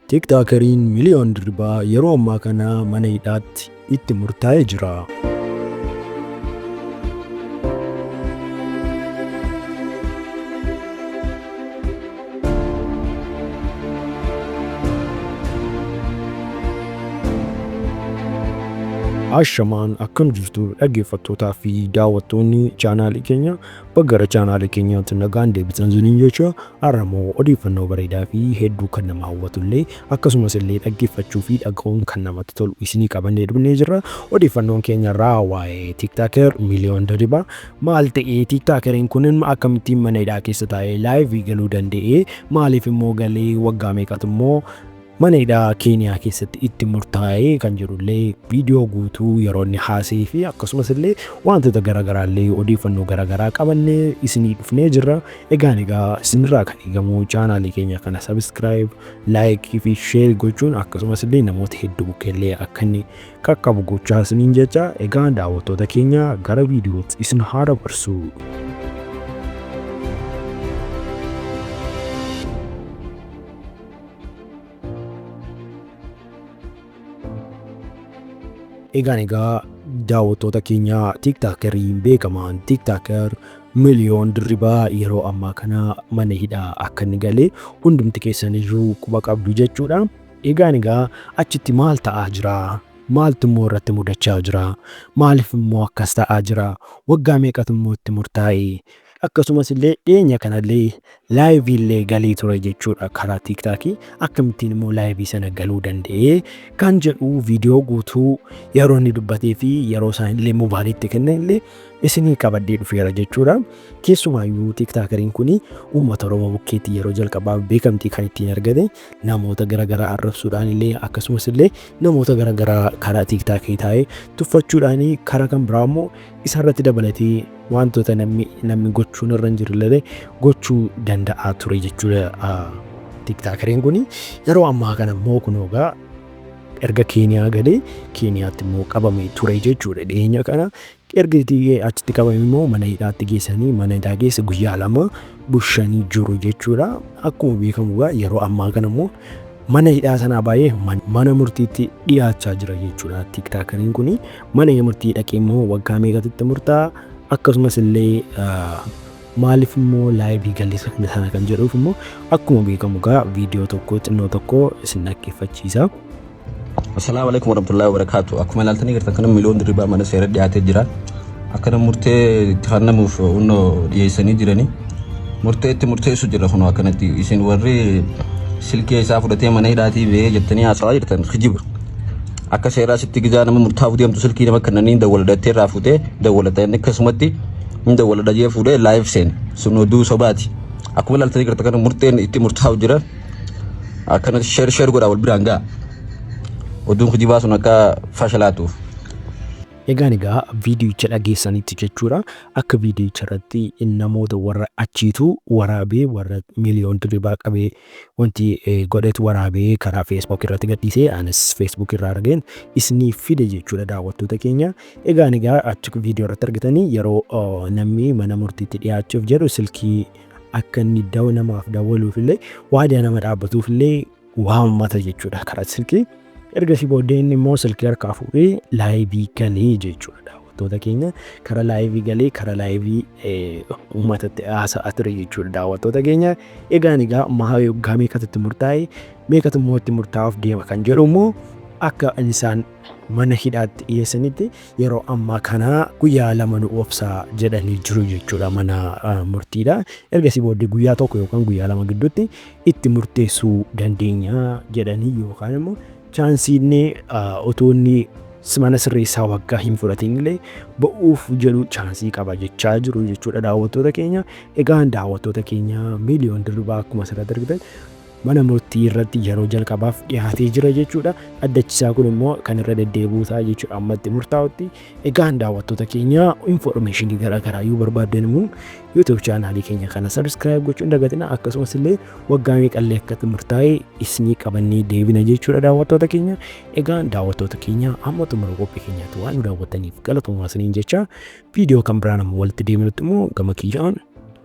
Tiiktookeriin Miliyoon Dirribaa yeroo ammaa kana mana hidhaatti itti murtaa'ee jira. Ashamaan akkam jirtu dhaggeeffattootaa fi daawwattoonni chaanaalii keenya baggara chaanaalii keenyaatti nagaan deebitan zuniin jecha har'amoo odeeffannoo bareedaa fi hedduu kan nama hawwatu illee akkasumas illee dhaggeeffachuu fi dhaga'uun kan namatti tolu isinii qabannee dhufnee jirra odeeffannoon keenya irraa waa'ee tiktaaker miliyoon diribaa Maal ta'ee tiiktaakeriin kun akkamittiin mana hidhaa keessa taa'ee laayivii galuu danda'ee maaliif immoo galee waggaa meeqatu immoo mana hidhaa keeniyaa keessatti itti murtaa'ee kan jedhullee viidiyoo guutuu yeroo inni haasee fi akkasumas illee wantoota garaagaraa illee odeeffannoo garaagaraa qabannee isinii dhufnee jirra egaan egaa isinirraa kan eegamu chaanaalii keenya kana sabiskiraayib laayikii fi sheer gochuun akkasumas illee namoota hedduu bukkeellee akka inni qaqqabu gochaa isiniin jecha egaa daawwattoota keenya gara viidiyootti isin haa dabarsu. Egaan egaa daawwattoota keenya tiiktaakeriin beekamaan tiiktaaker miliyoon dirribaa yeroo ammaa kana mana hidhaa akka inni galee hundumti keessaniyyuu quba qabdu jechuudha. Egaan egaa achitti maal ta'aa jira? Maaltu immoo irratti mudachaa jira? Maaliif immoo akkas ta'aa jira? Waggaa meeqatu immoo itti murtaa'e? Akkasumas illee dhiyeenya kana illee laayivii illee galee ture jechuudha karaa tiiktaakii akkamittiin immoo laayivii sana galuu danda'ee kan jedhu viidiyoo guutuu yeroo inni dubbatee fi yeroo isaan illee moobaaliitti kennan illee isinii qabadhee dhufeera jechuudha. Keessumaayyuu tiiktaakariin kun uummata Oromoo bukkeetti yeroo jalqabaaf beekamtii kan ittiin argate namoota garagaraa arrabsuudhaan illee akkasumas illee namoota garagaraa karaa tiiktaakii taa'ee tuffachuudhaan karaa kan biraa immoo isarratti dabalatee wantoota namni namni gochuun irra hin jirre gochuu danda'a ture jechuudha tiiktaakariin kun yeroo ammaa kana immoo kun egaa erga keeniyaa galee keeniyaatti immoo qabamee ture jechuudha dhiyeenya kana Erga hidhee achitti qabame immoo mana hidhaatti geessanii mana hidhaa keessa guyyaa lama bushanii jiru jechuudha. Akkuma beekamu egaa yeroo ammaa kana immoo mana hidhaa sanaa baay'ee mana murtiitti dhiyaachaa jira jechuudha. Tiiktaakariin kun mana murtii dhaqee immoo waggaa meeqatti murtaa'a akkasumas illee Maaliif immoo laayivii galli sana sana kan jedhuuf immoo akkuma beekamu gaa viidiyoo tokko xinnoo tokko isin dhaggeeffachiisa. Assalaamu alaikum warahmatullahi wabarakaatu. Akkuma ilaaltanii jirtan kana miliyoon dirribaa mana seera dhiyaatee jira. Akkana murtee itti kennamuuf hunnoo dhiyeessanii jiranii. Murtee itti murteessu jira kunoo akkanatti isin warri silkee isaa fudhatee mana hidhaatii ba'ee jettanii haasawaa jirtan kijiba. Akka seeraa sitti gizaa nama murtaa'uu deemtu silkii nama kennanii dawwala dhattee irraa fuutee dawwalata inni akkasumatti hin dawwala dhajee fuudhee live seen sun oduu sobaati akkuma ilaaltanii garta kana murteen itti murtaa'u jira akkana sheer sheer godhaa wal biraan ga'a oduun kijibaa sun akka fashalaatuuf. Egaan egaa viidiyicha dhageessanitti jechuudha akka viidiyicha irratti namoota warra achiitu waraabee warra miiliyoon dirribaa qabee wanti godhetu waraabee karaa Facebook irratti gadhiisee anis Facebook irraa argeen isiniif fide jechuudha daawwattoota keenya. Egaa egaa achi viidiyoo irratti argitanii yeroo namni mana murtiitti dhiyaachuuf jedhu silkii akka inni daw namaaf dawwaluuf illee waadaa nama dhaabbatuuf illee waammata jechuudha karaa silkii. Ergasii booddee inni immoo silkii harkaa fuudhee laayivii galee jechuudha daawwattoota keenya kara laayivii galee kara laayivii uummatatti haasa'aa ture jechuudha daawwattoota keenya egaan egaa mahaa yoggaa meeqatutti murtaa'e meeqatu immoo itti murtaa'uuf deema kan jedhu immoo akka isaan mana hidhaatti dhiyeessanitti yeroo ammaa kana guyyaa lama nu obsaa jedhanii jiru jechuudha mana murtiidha ergasii booddee guyyaa tokko yookaan guyyaa lama gidduutti itti murteessuu dandeenya jedhanii yookaan immoo chaansiinni otoo inni mana sirreessaa waggaa hin fudhatiin illee ba'uuf jedhu chaansii qaba jechaa jiru jechuudha daawwattoota keenya. Egaa daawwattoota keenya miiliyoon dirribaa akkuma asirratti argitan mana murtii irratti yeroo jalqabaaf dhiyaatee jira jechuudha. Addachisaa kun immoo kan irra deddeebi'uu ta'a jechuudha ammatti murtaa'utti. Egaan daawwattoota keenya infoormeeshinii garaa garaa yoo barbaaddan immoo YouTube chaanaalii keenya kana subscribe gochuu hin dagatina akkasumas illee waggaa meeqallee akka murtaa'e isinii qabannee deebina jechuudha daawwattoota keenya. Egaan daawwattoota keenya amma xumura qophii keenyaatti waan nu daawwattaniif galatoomaa isiniin jecha viidiyoo kan biraan amma walitti deebinutti immoo gama kiyyaan